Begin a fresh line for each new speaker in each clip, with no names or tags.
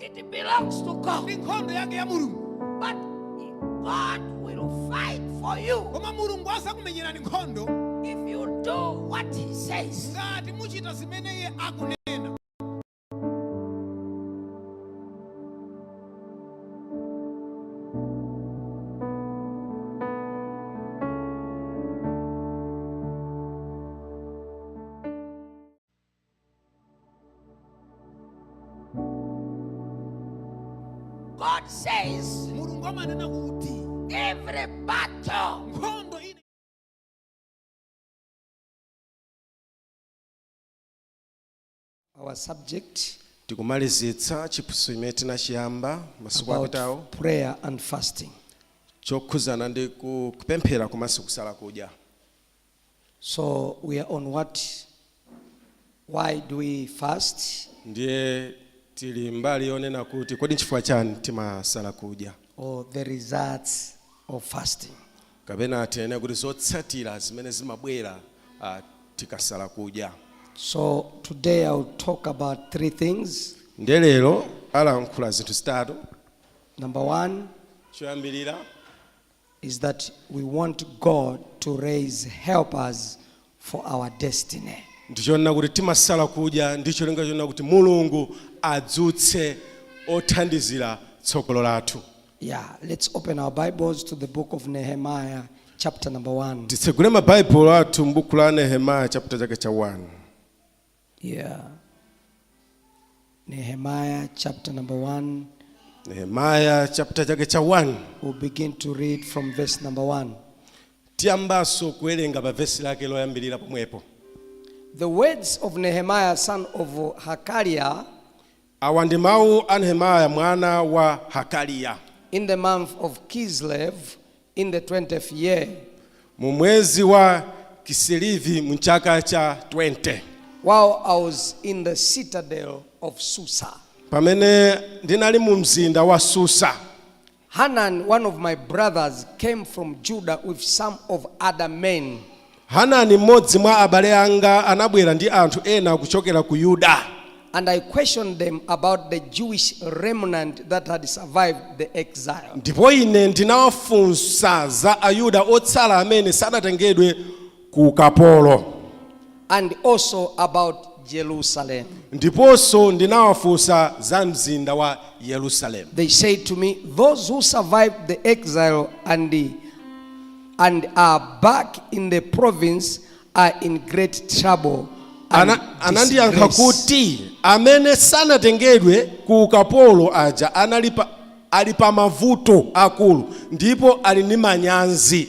It belongs to God. ndi nkhondo yake ya mulungu But God will fight for you koma mulungu adzakumenyerani nkhondo if you do what He says. ngati muchita zimene iye akunena God says mulungu amanena kuti every battle nkhondo ina
our subject
tikumalizitsa chiphunzitso chimene tinachiyamba masiku about apitawo prayer and
fasting chokhudzana
ndi ku- kupemphera komanso kusala kudya
So we are on what? Why do we fast?
ndiye tili mbali yonena kuti kodi nchifukwa chani timasala kudya Or the
results of fasting? kapena tinene
kuti zotsatira zimene zimabwera ah, tikasala kudya
So today I'll talk about three things. ndiye lero
alankhula zinthu zitatu Number
one, choyambirira is that we want God to raise helpers for our destiny. ndichonena kuti
timasala kudya ndi cholinga chonena kuti mulungu adzutse othandizira tsogolo lathu Yeah,
let's open our Bibles to the book of Nehemiah, chapter number one. titsegule mabaibulo
athu m'buku la nehemaya chaputala chake cha 1 Yeah.
Nehemiah chapter number 1. Nehemiah
chapter chake cha 1. We'll begin to
read from verse number 1. Tiyambaso
kuwerenga pa verse lake loyambirira pomwepo. The
words of Nehemiah son of Hakaliah Awa
ndi mawu a Nehemiah mwana wa Hakaliya. In the month
of Kislev, in the twentieth year. Mu mwezi
wa Kisilevi, mu chaka cha 20. While I
was in the citadel of Susa. Pamene
ndinali mu mzinda wa Susa. Hanan,
one of my brothers, came from Judah with some of other men. Hanani
mmodzi mwa abale anga anabwera ndi anthu ena kuchokera ku Yuda. And I questioned
them about the Jewish remnant that had survived the exile. Ndipo ine
ndinawafunsa za Ayuda otsala amene sanatengedwe ku ukapolo.
and also about Jerusalem.
Ndiponso ndinawafunsa za mzinda wa Yerusalemu. They said to me,
Those who survived the exile and, the, and are back in the province are in great trouble. and Ana-
anandiyankha disgrace." kuti amene sanatengedwe ku ukapolo aja anali pa, ali pa mavuto akulu ndipo ali ndi manyazi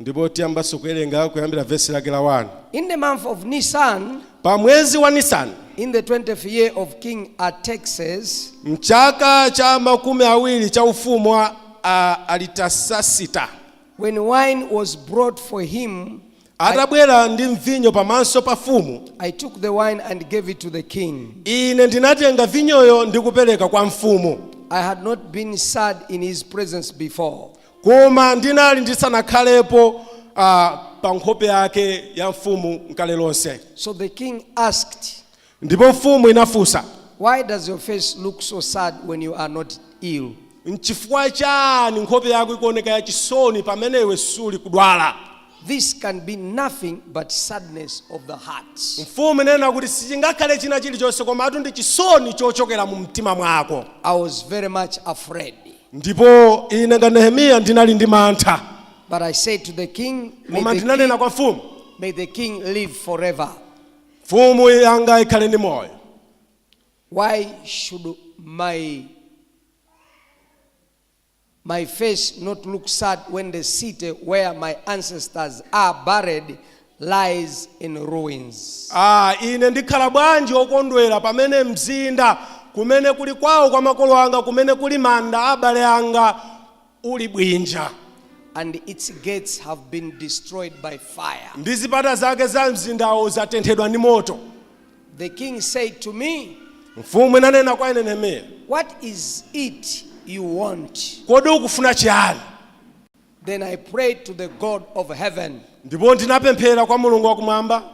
Ndipo tiyambanso
kuwerenga kuyambira vesi lake la 1. In the month of
Nisan, Pa mwezi wa
Nisani, in the 20th
year of King Artaxerxes, mchaka
cha makumi awiri cha ufumu wa a- Aritasasita, when
wine was brought for him, atabwera
ndi mvinyo pamaso pa mfumu, I took the wine
and gave it to the king. ine ndinatenga
vinyoyo ndi kupereka kwa mfumu. I had not
been sad in his presence before.
Koma ndinali ndisanakhalepo a, pa nkhope yake ya mfumu nkale lonse. So the
king asked, Ndipo mfumu
inafunsa, Why does your
face look so sad when you are not ill? Nchifukwa
chani nkhope yako ikuoneka yachisoni pamene iwe suli kudwala?
This can be nothing but sadness of the heart. Mfumu inanena kuti
sichingakhale china chilichonse komatu ndi chisoni chochokera mu mtima mwako. I was very much
afraid.
Ndipo ine nga Nehemiya ndinali ndi mantha, But I said
to the king, koma ndinanena kwa mfumu, may the king live forever. mfumu
yanga ikhale ndi moyo.
Why should my face not look sad when the city where my ancestors are buried lies in ruins. Ah, ine
ndikhala bwanji wokondwera pamene mzinda kumene kuli kwawo kwa makolo anga, kumene kuli manda a abale anga, uli bwinja. and its
gates have been destroyed by fire. ndi zipata
zake za mzindawo zatenthedwa ndi moto The
king said to me, mfumu inanena
kwa ine Nehemiya What is
it you want? kodi ukufuna
chiyani
Then I prayed to the God of heaven. ndipo
ndinapemphera kwa Mulungu wakumwamba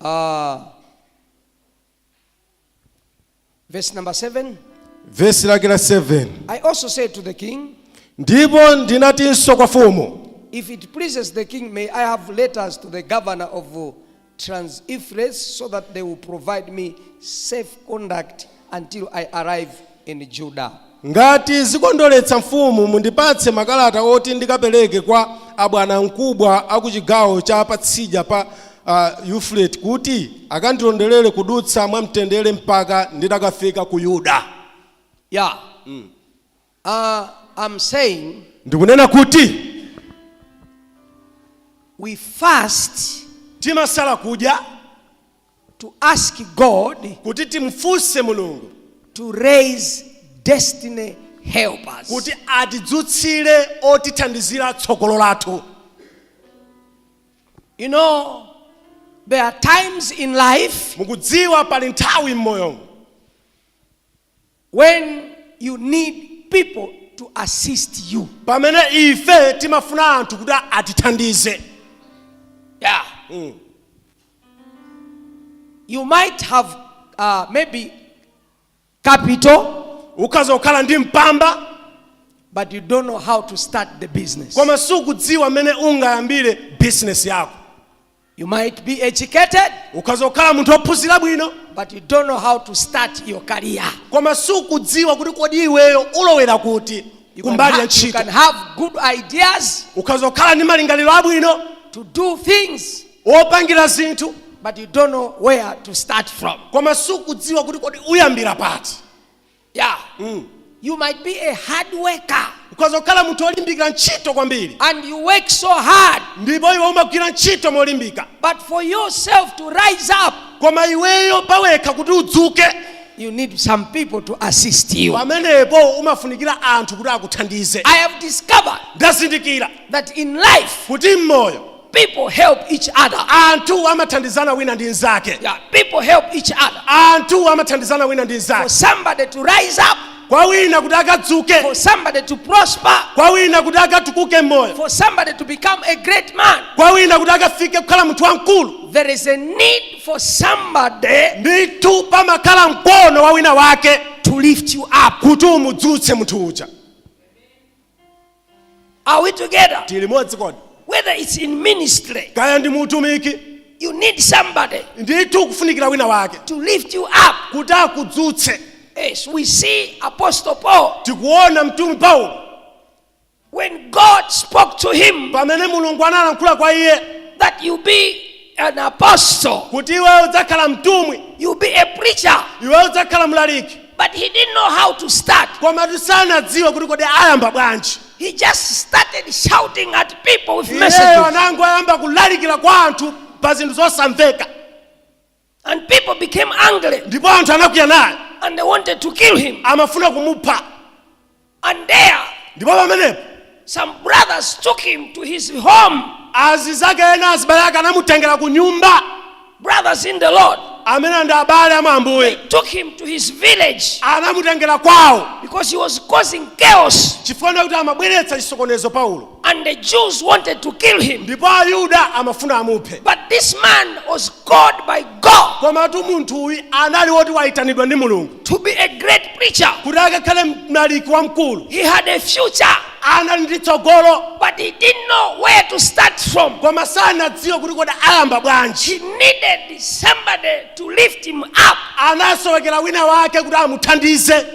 Uh,
verse number seven. vesi
lake la 7 I also said to
the king,
ndipo ndinatinso kwa mfumu If it pleases
the king, may I have letters to the governor of uh, Trans-Euphrates so that they will provide me safe conduct until I arrive in Judah. Ngati
zikondoletsa mfumu, mundipatse makalata oti ndikapereke kwa abwanamkubwa a ku chigawo cha patsidya pa Euphrates kuti akandilonderere kudutsa mwamtendere mpaka nditakafika ku Yuda. Yeah.
Uh, I'm saying ndikunena kuti we fast
timasala kudya to
ask God kuti timfunse
Mulungu to raise
destiny helpers
kuti atidzutsire otithandizira tsogolo
lathu you know there are times in life mukudziwa pali
nthawi m'moyo
when you need people to assist you. pamene ife
timafuna anthu kuti atithandize
Yeah. Mm. You might have uh, maybe capital, ukhoza
kukhala ndi mpamba but
you don't know how to start the business. koma sukudziwa
mmene ungayambire bizinesi yako You might
be educated, ukhoza kukhala munthu
wophunzira bwino but you don't know how
to start your career. koma sukudziwa
kuti kodi iweyo ulowera kuti You can, kumbali ha- ya you ntchito can have
good ideas ukhoza kukhala ndi
malingaliro abwino to do
things, wopangira zinthu
but you don't know
where to start from. koma sukudziwa
kuti kodi uyambira pati Yeah.
Mm. You might be a hard worker. ukhoza kukhala munthu
wolimbikira ntchito kwambiri and you work so
hard ndipo iwe umagwira
ntchito molimbika but for yourself
to rise up koma iweyo
pawekha kuti udzuke you need
some people to assist you pamenepo umafunikira
anthu kuti akuthandize i have discovered
ndazindikira
that in life
kuti mmoyo
People
help each other. anthu
amathandizana wina ndi mnzake Yeah, people
help each other. anthu
amathandizana wina ndi For mnzake somebody to
rise up, kwa wina kuti
akadzuke for somebody to
prosper, kwa wina kuti
akatukuke mmoyo for somebody to
become a great man, kwa wina kuti
akafike kukhala munthu wamkulu there is a
need for somebody ndithu
pamakhala mkono wa wina wake to lift you
up. kuti umudzutse
munthu uja
Are we together? tili limodzi
kodi Whether it's
in ministry, kaya ndi muutumiki
you need
somebody ndithu ukufunikira
wina wake to lift you up.
kuti akudzutse
Yes,
we see Apostle Paul tikuona
mtumwi paulo when
God spoke to him pamene mulungu analankhula
kwa iye that you be
an apostle. kuti iwe
udzakhala mtumwi You'll be a
preacher. iwe
udzakhala mlaliki But he didn't know
how to start. koma
sanadziwe kuti kodi ayamba bwanji He just
started shouting at people with iyeyo messages. anangoyamba
kulalikira kwa anthu pa zinthu
zosamveka And people became angry ndipo anthu anakwiya
naye and they wanted to
kill him. amafuna kumupha And there, ndipo
pamenepo some
brothers took him to his home. azizake
ena azibale ake anamutengera ku nyumba Brothers in
the Lord, amene ndi
abale a mwa ambuye took him to
his village anamutengera
kwawo because he was causing
chaos. chifukwa kuti amabweretsa
chisokonezo paulo And the Jews
wanted to kill him. ndipo ayuda
amafuna amuphe But this man
was called by God komatu munthu uyu
anali woti wayitanidwa ndi mulungu to be a
great
preacher. kuti
akakhale mlaliki wamkulu He
had a
future,
anali ndi tsogolo but he didn't know
where to start from. koma sanadziwe
kuti kodi ayamba bwanji He needed
somebody to lift him up. anasowekera wina
wake kuti amuthandize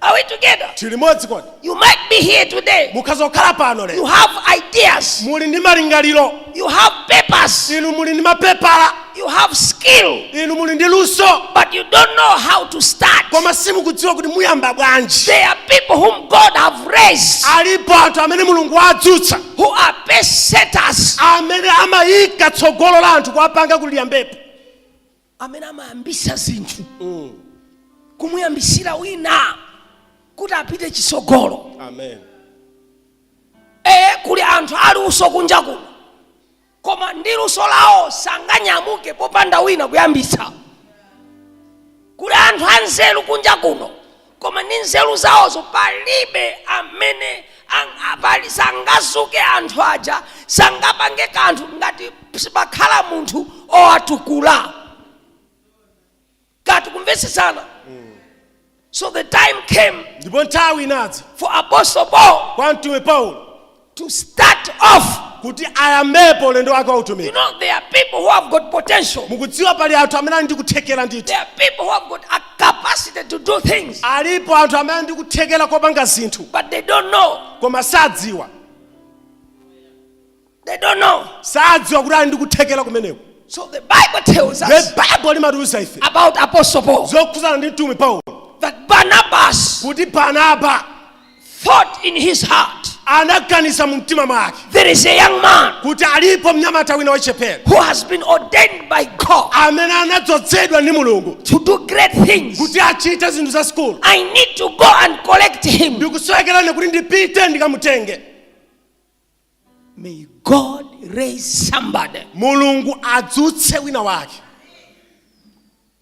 Are we
together? tili limodzi kodi
You might be
here today. mukhoza kukhala pano You
lero have
ideas. muli ndi
malingaliro You have
papers. inu muli ndi mapepala
You have
skill. inu muli ndi luso
But you don't know
how to start. koma simukudziwa
kuti muyamba bwanji There are people
whom God have raised alipo anthu
amene mulungu wawadzutsa who are pace
setters. amene
amayika tsogolo la anthu kuwapanga kuti liyambepo
amene amayambisa zinthu mm. kumuyambisira wina kuti apite chitsogolo amen
e,
kuli anthu aluso kunja kuno koma ndi luso lawo sanganyamuke popanda wina kuyambisa kuli anthu anzeru kunja kuno Koma ndi nzeru zawozo palibe amene ang, pali sangadzuke anthu aja sangapange kanthu ngati sipakhala munthu owatukula kaya tikumvetsetsana so the time came ndipo nthawi inadza
for apostle paul
kwa mtumwi paulo
to
start off. kuti
ayambepo ulendo wake wa You utumiki know, there
are
people who
have got potential. mukudziwa pali anthu
amene ali ndi kuthekera ndithu There are people who have got
a capacity to do things, alipo anthu amene ali ndi
kuthekera kopanga zinthu but they don't know.
koma sadziwa They don't know. sadziwa kuti ali
ndi kuthekera kumeneko So the
Bible tells us baibulo limatiuza
ife about Apostle Paul
zokhudzana ndi mtumwi
paulo that Barnabas
kuti barnaba thought in his heart anaganiza
mu mtima mwake there is a young
man kuti alipo mnyamata
wina wachichepere who has been ordained
by God amene
anadzozedwa ndi mulungu to do
great things kuti achite zinthu
zazikulu I need to
go and collect him ndikusowekera kuti
ndipite ndikamutenge
May God raise somebody
mulungu adzutse wina
wake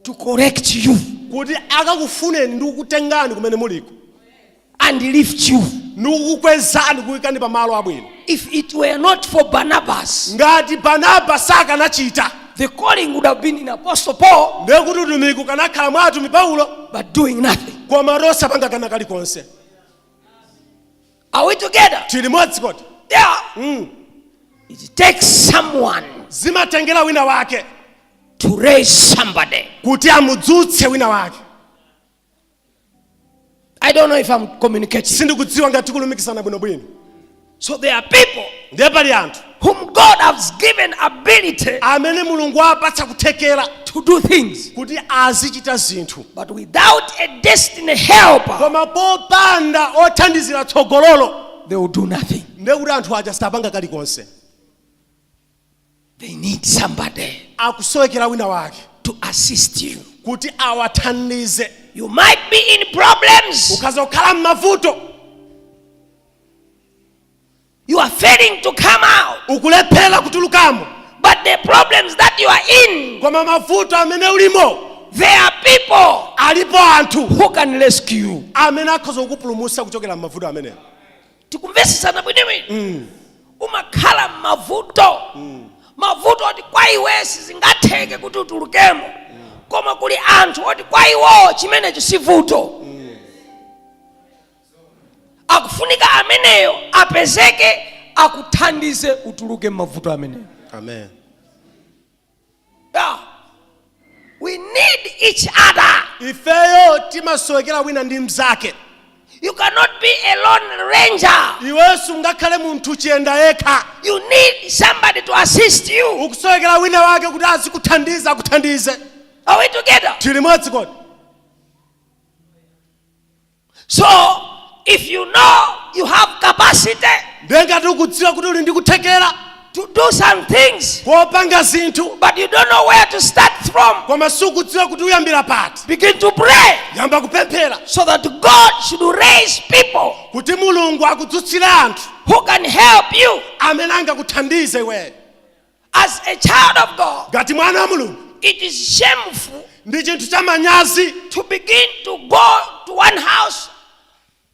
to collect you kuti
akakufuneni ndi kukutengani kumene muliko and
lift you. ndi kukukwezani
kukuyikani pa malo abwino If it were
not for Barnabas, ngati
barnaba sakanachita the calling
would have been in Apostle Paul, ndiye kuti utumiki
ukanakhala mwa atumwi paulo but doing nothing.
koma
osapanga kana kalikonse
Are we together? tili modzi kodi
Yeah. mm.
It takes someone zimatengera
wina wake to raise
somebody. kuti amudzutse
wina wake
I don't know if I'm communicating. sindikudziwa ngati tikulumikizana
bwinobwino So there
are people ndiye pali anthu
whom God
has given ability amene
mulungu wapatsa kuthekera to do
things. kuti
azichita zinthu But without a
destiny helper, koma popanda
othandizira tsogololo they will do nothing.
ndiye kuti anthu aja
sapanga
kalikonse They need somebody akusowekera
wina wake to
assist you. kuti
awathandize You might be
in problems, ukhoza kukhala m'mavuto You are failing to come out. ukulephera
kutulukamo But
the problems that you are in, koma mavuto
amene ulimo there are people
alipo anthu
who can rescue
you. amene akhoza
kukupulumutsa kuchokera m'mavuto amenewo
tikumvesesana bwinobwino umakhala m'mavuto mavuto oti kwa iwe sizingatheke kuti utulukemo koma kuli anthu oti kwa iwo chimenecho si vuto akufunika ameneyo apezeke akuthandize utuluke m'mavuto amenewo
Amen.
yeah. we need each other Ifeyo
timasowekera wina ndi mnzake. you
cannot be a lone ranger Iwe
sungakhale munthu chiyenda yekha. you
need somebody to assist you Ukusowekera wina wake
kuti azikuthandiza akuthandize. are we together
Tili limodzi kodi. So, if you know you have capacity ndiye ngati
ukudziwa kuti uli ndi kuthekera to do some
things, kopanga zinthu
but you don't know where
to start from, koma sukudziwa kuti
uyambira pati begin to pray
yamba kupemphera
so that God
should raise people kuti mulungu
akudzutsire anthu who can help
you. amene angakuthandize
iweyo As a
child of God, ngati mwana wa mulungu
it is
shameful ndi chinthu cha
manyazi to begin to
go to one house,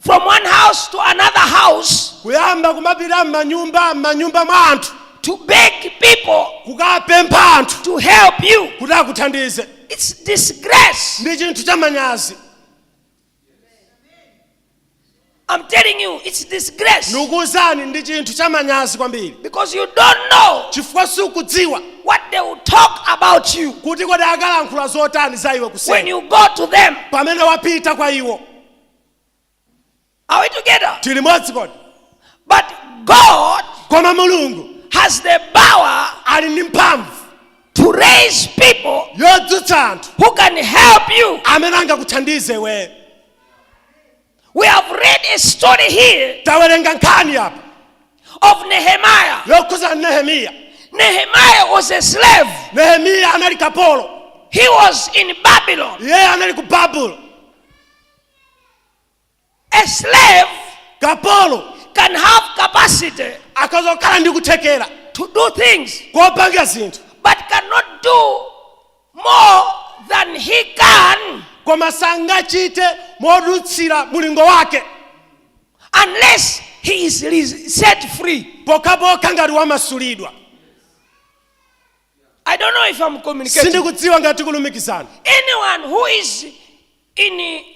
from one house to another house, kuyamba kumapita
m'manyumba m'manyumba mwa anthu to beg
people kukapempha
anthu to help you.
kuti akuthandize
It's
disgrace. ndi
chinthu cha manyazi
I'm telling you, it's disgrace. ndikuwuzani ndi
chinthu chamanyazi kwambiri Because you don't know
chifukwa sukudziwa
what they will
talk about you kuti kodi akalankhula
zotani za iwe when kuseni you go
to them. pamene wapita
kwa
iwo Are we together? tili limodzi
kodi But
God koma mulungu
has the
power ali ndi mphamvu
to
raise people yodzutsa anthu
who can
help you. amene
angakuthandizeni
We have read a story here tawerenga nkhani
apa
of Nehemiah. yokhuza
nehemiya
Nehemiah was a slave. nehemiya
anali kapolo He was
in Babylon. iyeyo anali ku babulo A slave
kapolo can
have capacity akhoza kukhala
ndi kuthekera to do things,
kopanga zinthu
but cannot
do more than he can
koma sangachite modutsira mulingo
wake unless he is set free. pokhapokha ngati
wamasulidwa
I don't know if I'm communicating. sindikudziwa ngati
tikulumikizana Anyone
who is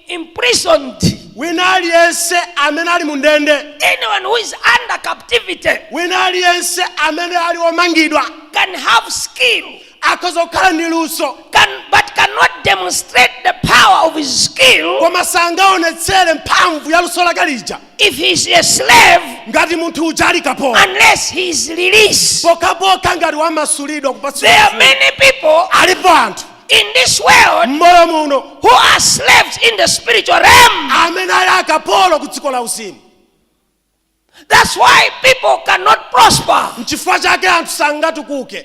imprisoned, wina aliyense
amene ali mu ndende anyone who is
under captivity wina
aliyense amene ali omangidwa can
have skill, akhoza kukhala
ndi luso but cannot
demonstrate the power of his skill koma sangaonetsere
mphamvu ya luso lake lija If he is a
slave, ngati munthu uja
ali kapolo unless he is
released, pokhapokha ngati
wamasulidwa there are many
people
alipo
anthu
in this world
mmoyo muno who
are slaves
in the spiritual realm amene ali akapolo
ku dziko la uzimu
that's why people cannot prosper nchifukwa chake anthu
sangatukuke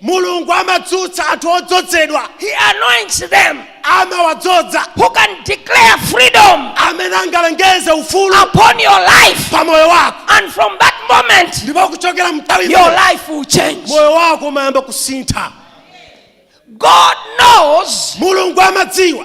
Mulungu amadzutsa anthu odzozedwa, He
anoints them amawadzoza,
who can
declare freedom amene angalengeze
ufulu upon your life.
pa moyo wako.
And from
that moment, Ndipo kuchokera
nthawi your imeneyo, life will
change. moyo wako umayamba
kusintha.
God knows Mulungu amadziwa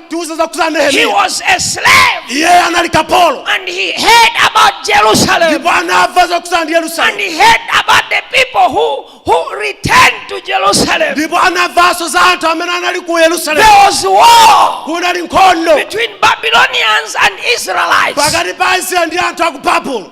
tiuza zokhudza He nehemiya was
a slave iye anali
kapolo and he
heard about Jerusalem ndipo anamva
zokhudza ndi and yerusalemu he heard
about
the
people who, who returned to Jerusalem. ndipo
anamvanso za anthu amene anali ku yerusalemu There was
war kunali nkhondo
between Babylonians
and Israelites. pakati pa israeli
ndi anthu aku babulo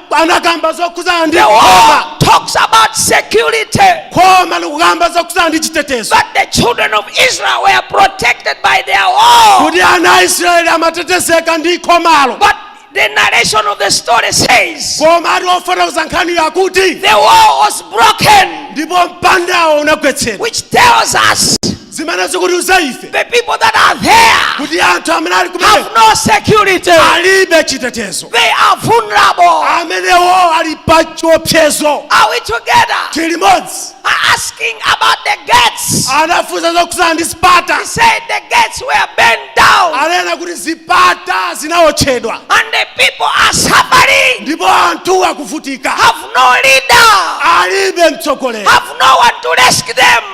anakamba zokhudzana ndi The khoma wall talks
about security, khoma
likukamba zokhudzana ndi chitetezo but the children of
Israel were protected by their wall. kuti ana a israeli
amatetezeka ndi khomalo But
the narration of the story says komatu
ofotokoza nkhaniyo akuti the wall was
broken, ndipo mpandawo
unagwetsedwa which tells us
zimene
zikutiuza ife The people that
are there kuti anthu amene
ali have kumeneko no
security.
alibe chitetezo They are
vulnerable. amenewo ali
pa chiopsezo Are we together?
tili
limodzi asking
about the gates. anafunsa
zokhuzana ndi zipata Said the
gates were burnt down anena
kuti zipata zinaotchedwa and the people
are suffering. ndipo anthu
akuvutika Have no
leader. alibe
mtsogoleri Have
no one to rescue them.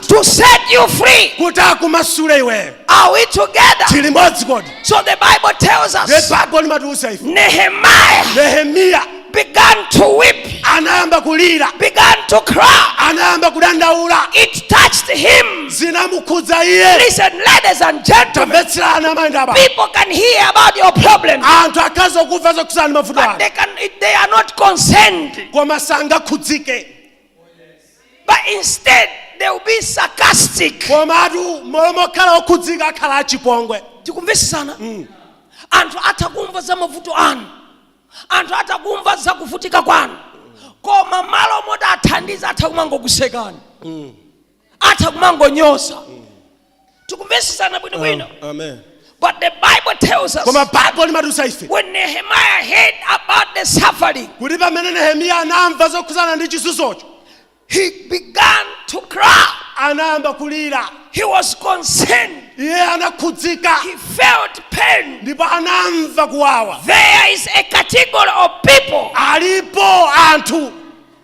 to set you
free. kuti
akumasule iweyo Are we
together? tili limodzi
kodi So the Bible
tells us baibulo limatiuza ife
Nehemiah
nehemiya
began to
weep, anayamba kulira
began to cry.
anayamba
kudandaula It
touched him. zinamukhudza
iye Listen, ladies
and gentlemen, tamvetserani amayi
ndi abambo people can hear
about your problem, anthu akhoza
kumva zokhudzana ndi mavuto anu but they, can, they
are
not
concerned. koma sangakhudzike but instead they will be sarcastic komatu
mmalo mokhala okhudzika akhala achipongwe tikumvetsetsana
anthu atha kumva za mavuto anu anthu atha kumva za kuvutika kwanu koma mmalo moti athandiza atha kumangokusekani atha kumangonyoza tikumvetsetsana bwino bwino Amen.
but the
bible tells us koma baibulo limatiuza
ife when nehemiah
heard about the suffering kuti pamene nehemiya
anamva zokhudzana ndi chizunzocho he
began to cry anayamba
kulira he
was concerned iye
anakhudzika he
felt pain ndipo anamva
kuwawa there is a
category of people alipo
anthu